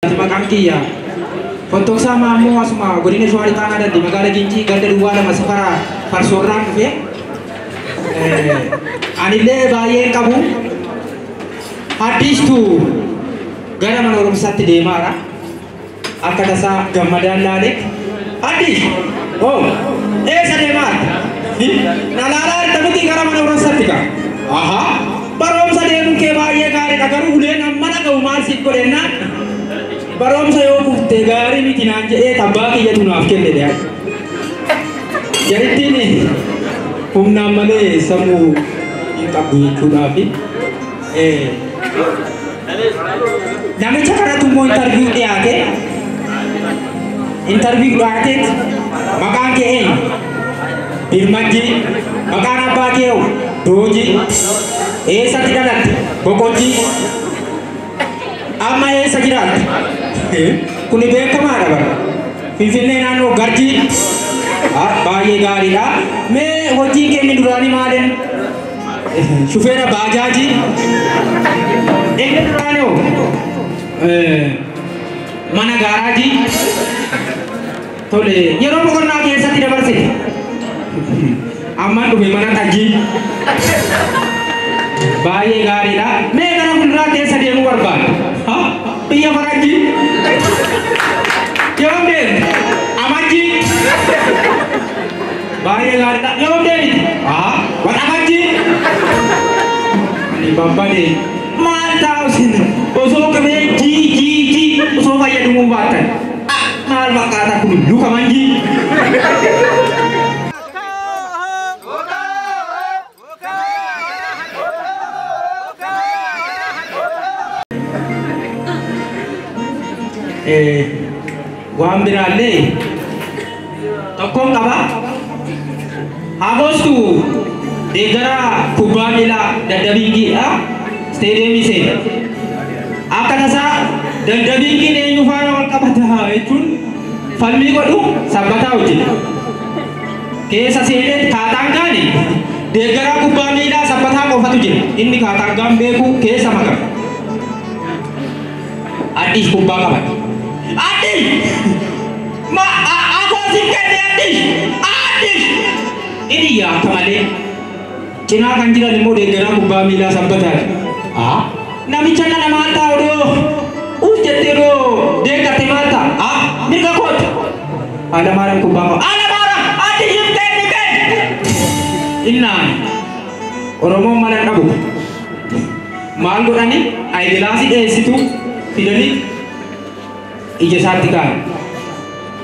Ani maqaan kiyya Fottoksaa Maammoo asuma godina Shawaa Lixaa Aanaa Daddi magaala Gincii ganda duwwaa lama safara Farsoorraan dhufe. Anillee baay'een qabu haddiistu gara mana barumsaatti deemaara. Akka tasaa gammadaan laale haddiis hoo eessa deemaarta? Na laalaa jirta miti gara mana barumsaatti kaa. Ahaa. Baroomsa deemun kee baay'ee gaariidha garuu uleen amma dhaga'u maal siif godhe ennaan baroomsa yoo kufte gaarii miti naan jedheet abbaa kiyyatu naaf kenne dear. Jarittiin humnaan malee sammuu hin qabdu jechuudhaafi. Namicha kanatu immoo interview dhiyaate. Interview dhiyaateet maqaan kee eenyu? Birmajjii. Maqaan abbaa kee hoo? Dooji, Eessatti dhalatte? Boqojji, Amma eessa jiraatta? Kuni beekamaadha bara. Finfinnee naannoo Garjii. Ah, Baay'ee gaariidha. Mee hojiin kee inni duraanii maalin? Shufeera baajaajii. Inni duraanii hoo? Eh, Mana gaaraajii. Tole, yeroo boqonnaa keessatti dabarsite. Amma dhufe mana tajjii. Baay'ee gaariidha. Mee gara fuulduraa keessa deemuu barbaadu. Ha? Biyya farajjii. Yoo deemte, amajjii. Baay'ee gaariidha. Yoo deemte, ha? Waxabajjii. Ani babbade. Maal ta'a isin? Osoo qabee jii jii jii osoo fayyadamuu baattan. Ah maal fakkaata kun luka manjii. Eh, Waan biraallee tokkoon qaba. Haagoostu deeggara kubbaa miilaa daddabiingiidha. Isteediyeemii seena. Akka tasaa daddabiingiin eenyu faana wal qabata jechuun falmii godhu sabbataa hojjeta. Keessa seenee kaataangaani deeggaraa kubbaa miilaa sabbataa qofatu jira. Inni kaataangaan beeku keessa maqama. Addish kubbaa qabate. Addish! Ma a afoo sin kenne Addish! Addish! Inni iyya akka malee. Cinaa kan jiran immoo deeggaraa kubbaa miilaa sabbataati. A namicha kana maal ta'a odoo uus jettee odoo deeggatte maal ta'a? A mirga kooti. Alamaaram kubbaa qaba. Alamaaram! Addishiif kenni kenni! Innaan Oromoon mana dhabu. Maal godhani ayigilaasii dheessituu fidanii ija isaatti kaa'an.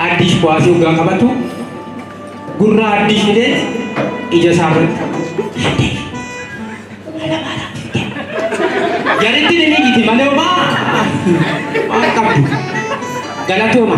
Addiish kuwaasii hoggaa qabatu gurra Addiish fidee ija isaa irratti. Addiish mana maalaa fiddee? Jaritti ni miigiti malee homaa waan qabdu. Galatooma.